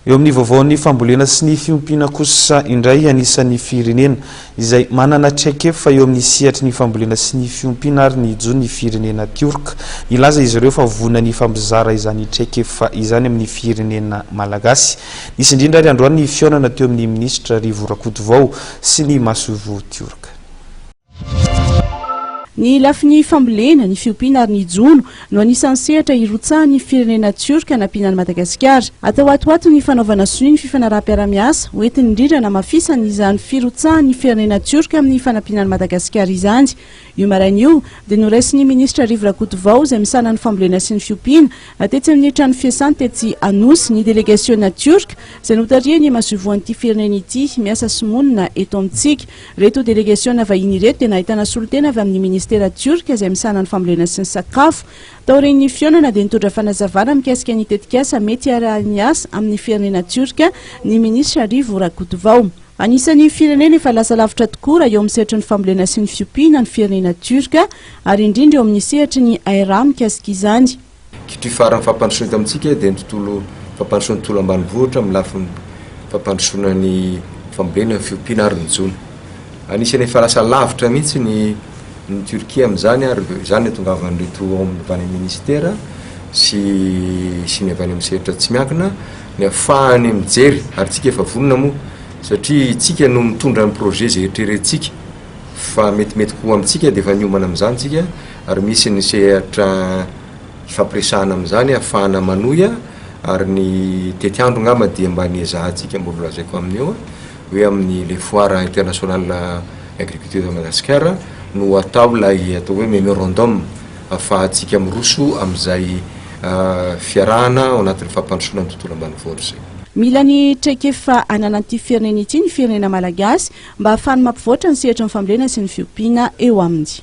Eo amin'ny vaovaon'ny fambolena sy ny fiompiana kosa indray anisan'ny firenena izay manana traikefa eo amin'ny sehatry ny fambolena sy ny fiompiana ary ny jo ny firenena Tiorka. Nilaza izy ireo fa vonona ny hifampizara izany traikefa izany amin'ny firenena malagasy. Nisy indrindra ary androany ny fihaonana teo amin'ny minisitra Rivo Rakotovao sy ny masoivoho Tiorka. Ny lafiny fambolena, ny fiompiana ary ny jono no anisan'ny sehatra hirotsahan'ny firenena Tiorka hanampiana an'i Madagasikara. Atao hatohato ny fanaovana sonia ny fifanaraham-piarahamiasa ho entin'ny indrindra hanamafisana izany firotsahan'ny firenena Tiorka amin'ny fanampiana an'i Madagasikara izany. Io maraina io dia noraisin'ny minisitra Rivo Rakotovao izay misahana ny fambolena sy ny fiompiana tetsy amin'ny trano fiasany tetsy Anosy ny delegasiona Tiorka izay notarihan'ny masoivohon'ity firenena ity miasa sy monina eto amintsika. Ireto delegasiona vahiny ireto dia nahitana solontena avy amin'ny Ministera Tiorka izay misahana ny fambolena sy ny sakafo. Taorian'ny fihaonana dia nitondra fanazavana mikasika ny tetikasa mety hiarahan'ny asa amin'ny firenena Tiorka ny Minisitra Rivo Rakotovao. Anisan'ny firenena efa lasa lavitra tokoa raha eo amin'ny sehatry ny fambolena sy ny fiompiana ny firenena Tiorka ary indrindra eo amin'ny sehatry ny IRA mikasika izany. Kitri Faran'ny fampandrosoana eto amintsika dia ny tontolo fampandrosoan'ny tontolo ambanivohitra amin'ny lafiny fampandrosoana ny fambolena, ny fiompiana ary ny jono. Anisan'ny efa lasa lavitra mihitsy ny ny Turquie amin'izany ary izany no itongavan'ireto ao amin'ny avy any amin'ny Minisitera sy sy ny avy any amin'ny sehatra tsy miankina ny hahafahany mijery ary isika efa vonona moa satria isika no mitondra ny projet izay eritreretintsika fa metimety koa amintsika dia efa niomana amin'izany isika ary misy ny sehatra hifampiresahana amin'izany hahafahana manohy ary ny tetiandro angamba dia mba niezahantsika mbola lazaiko amin'ny eo hoe amin'ny le foire international agriculture de Madagascar no atao ilay atao hoe memorandum hahafahantsika miroso amin'izay fiarahana ao anatin'ny fampandrosoana ny tontolo ambanivohitra izay. Mila ny traikefa ananan'ity firenena ity ny firenena malagasy mba hahafany mampivoatra ny sehatry ny fambolena sy ny fiompiana eo aminy.